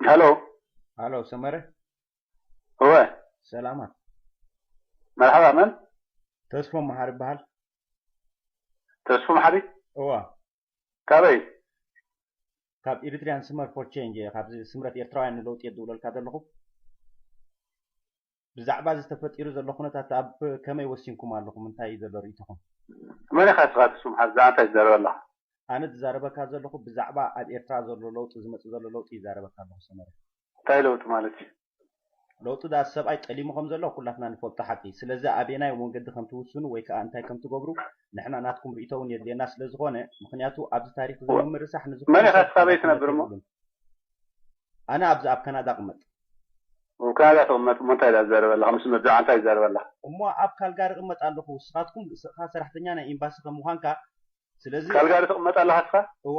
ሄሎ ሃሎ ሰመረ እወ ሰላማት መርሓባ መን ተስፎ መሃር ይበሃል ተስፉ መሓሪ እወ ካበይ ካብ ኤሪትሪያን ስመር ፎር ቼንጅ እየ ካብዚ ስምረት ኤርትራውያን ንለውጢ እየ ዝድውለልካ ዘለኹ ብዛዕባ እዚ ተፈጢሩ ዘሎ ኩነታት ኣብ ከመይ ወሲንኩም ኣለኹም እንታይ እዩ ዘሎ ርእይቶኹም መን ኢኻ ንስኻ ተስፉ መሓሪ ብዛዕባ እንታይ ትዛረብ ኣለኻ ኣነ ዝዛረበካ ዘለኹ ብዛዕባ ኣብ ኤርትራ ዘሎ ለውጢ ዝመጽእ ዘሎ ለውጢ ይዛረበካ ኣለኹ ሰመረ እንታይ ለውጢ ማለት እዩ ለውጢ ዳኣ ሰብኣይ ጠሊሙ ከም ዘሎ ኩላትና ንፈልጦ ሓቂ እዩ ስለዚ ኣበየናይ መንገዲ ከም ትውስኑ ወይ ካኣ እንታይ ከም ትገብሩ ንሕና ናትኩም ሪኢቶ ውን የድልየና ስለ ዝኾነ ምኽንያቱ ኣብዚ ታሪኽ እዚ ንምርሳሕ ንዝኾነ ሰብ ሓላፍነት የብሉን ኣነ ኣብዚ ኣብ ካናዳ እቕመጥ። ኣብ ካናዳ ትቕመጥ እሞ እንታይ ትዛረብ ኣለኻ ምስ መብዛዓ እንታይ ትዛረብ ኣለኻ። እሞ ኣብ ካልጋሪ እቕመጥ ኣለኹ ንስኻትኩም ርእስኻ ሰራሕተኛ ናይ ኢምባሲ ከም ምዃንካ ስለዚ። ካልጋሪ ትቕመጥ ኣለኻ እስኻ። እወ።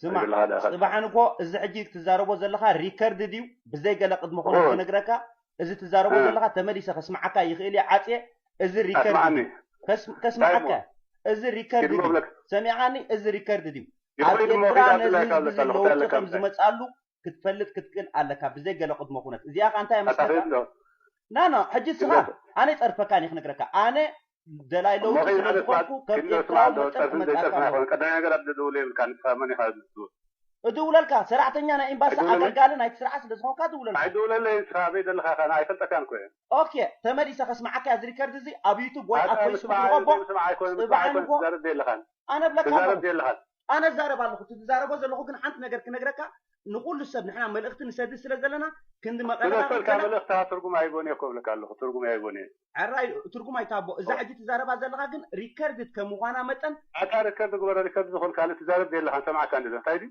ስማዕ ጽባሓን እኮ እዚ ሕጂ ትዛረቦ ዘለካ ሪከርድ ድዩ ብዘይ ገለ ቅድመ ኩነት ክነግረካ እዚ ትዛረቦ ዘለካ ተመሊሰ ከስማዓካ ይክእል እየ ዓጽየ እዚ ሪከርድ ድዩ ከስማዓካ እዚ ሪከርድ ድዩ ሰሚዕካኒ እዚ ሪከርድ ድዩ ኣብ ኤርትራ ነዚ ህዝቢ እዚ ለውጢ ከም ዝመጻሉ ክትፈልጥ ክትክእል ኣለካ ብዘይ ገለ ቅድሞ ኩነት እዚኣ ከኣ እንታይ እያ መስለካ ናኖ ሕጂ እስኻ ኣነ ይጸርፈካ እኔ ክነግረካ ኣነ ደላይ ለውጢ ስለ ዝኾንኩ ከም ኤርትራዊ መጠን ክመጽኣካ ኣለዎ ቀዳማይ ነገር ኣብ ደውለ የብልካ ንስኻ መን ኢኻ ዝድውል እድውለልካ ሰራሕተኛ ናይ ኤምባሲ ኣገልጋሊ ናይቲ ስርዓት ስለ ዝኾንካ እድውለልካ ኣይድውለለይን ንስኻ ኣበይ ዘለኻ ኢኻ ኣይፈልጠካን እኮ እየ ኦኬ ተመሊሰ ከስምዓካ እያ እዚ ሪከርድ እዚ ኣብ ዩቱብ ወይ ኣብ ፈይስቡክ ንኸቦ ጽባሕ ንጎ ኣነብለካ ኣለኹ ኣነ እዛረብ ኣለኹ እቲ ዝዛረቦ ዘለኹ ግን ሓንቲ ነገር ክነግረካ ንኹሉ ሰብ ንሕና መልእኽቲ ንሰድድ ስለ ዘለና ክንዲ መቐረባ ብነፍሰ ወከፍ ወልካ መልእኽትኻ ትርጉም ኣይቦን እየ እኮ እብለካ ኣለኹ ትርጉም ኣይቦን እየ ዕራይ ትርጉም ኣይትሃቦ እዛ ሕጂ ትዛረባ ዘለኻ ግን ሪከርድድ ከም ምዃና መጠን ኣታ ሪከርድ ግበሮ ሪከርድ ዝኹን ካልእ ትዛረብ ዘይለኻን ሰማዕካ እንድለ እንታይ ድዩ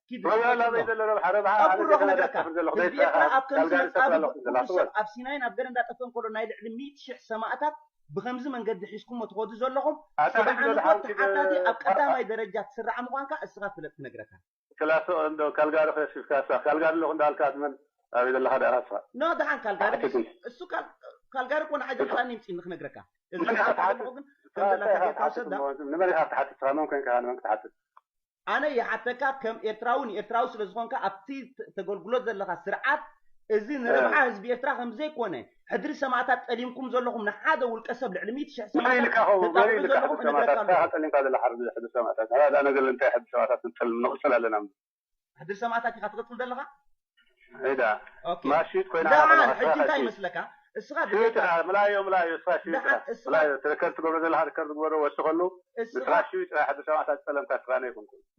ኪድርብ ጀሚሮም። ኣብ ጉሮ ክነግረካ፣ ህዝቢ ኤርትራ ኣብ ከምዚ መጻብብ ኩሉ ሰብ ኣብ ሲናይን ኣብ ገረንዳ ጠፈን ከሎ ናይ ልዕሊ ሚእቲ ሽሕ ሰማእታት ብኸምዚ መንገዲ ሒዝኩሞ ትኸዱ ዘለኹም ጽባሕ ንግሆ ተሓታቲ ኣብ ቀዳማይ ደረጃ ትስራዕ ምዃንካ እስኻ ፍለጥ ክነግረካ። ክላሶ እንዶ ካልጋሪ ከሲስካሳ ካልጋሪ ኣለኹ እንዳበልካ ንመን ኣበይ ዘለኻ ደኣ ስኻ። ን ደሓን ካልጋሪ ድዩ እሱ ካልጋሪ እኮ ንዓይ ዘምጽኣኒ ይምጽእኒ ክነግረካ እዚ ንስኻ ትሓትት ንስኻ እንታይ ኢኻ ክትሓትት እሞ ንመን ኢኻ ክትሓትት ንስኻ መን ኮንካ ኢኻ ንመን ክትሓትት። ኣነ ይሓተካ ከም ኤርትራዊ ንኤርትራዊ ስለ ዝኮንካ ኣብቲ ተገልግሎ ዘለካ ስርዓት እዚ ንረብሓ ህዝቢ ኤርትራ ከም ዘይኮነ ሕድሪ ሰማእታት ጠሊምኩም ዘለኩም ንሓደ ውልቀ ሰብ ልዕሊ ሚእቲ ሽሕ ሰማእታት ተጣቅዑ ዘለኩም እነግረካ ኣለኩ። ጠሊምካ ዘለካ ሕድሪ ሰማእታት ኣነ ግን እንታይ ሕድሪ ሰማእታት ክንጠልም ንቅጽል ኣለና። ሕድሪ ሰማእታት ኢካ ትቅጽል ዘለካ? ዳሓን ሕጂ እንታይ ይመስለካ እስኻ ብዘይካ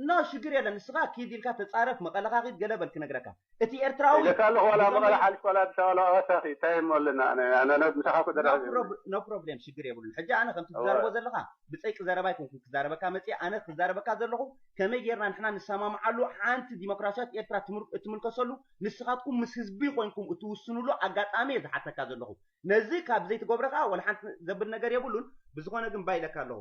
ን ሽግር የለን ንስኻ ኪድ ኢልካ ተጻረፍ መቐለኻ ኺድ ገለ በል ክነግረካ እቲ ኤርትራዊ no problem ሽግር የብሉን ሕጂ ኣነ ከምቲ ትዛረቦ ዘለኻ ብጸይቂ ዘረባ ኣይኮንኩን ክዛረበካ መጺኤ ኣነ ክዛረበካ ዘለኹ ከመይ ጌርና ንሕና ንሰማምዓሉ ሓንቲ ዲሞክራሲያዊት ኤርትራ እትምልከሰሉ ንስኻትኩም ምስ ህዝቢ ኮይንኩም እትውስንሉ ኣጋጣሚ እየ ዝሓተካ ዘለኹ ነዚ ካብ ዘይትገብሮ ከኣ ወላሓንቲ ዘብል ነገር የብሉን ብዝኾነ ግን ባይ ኢለካ ኣለኹ።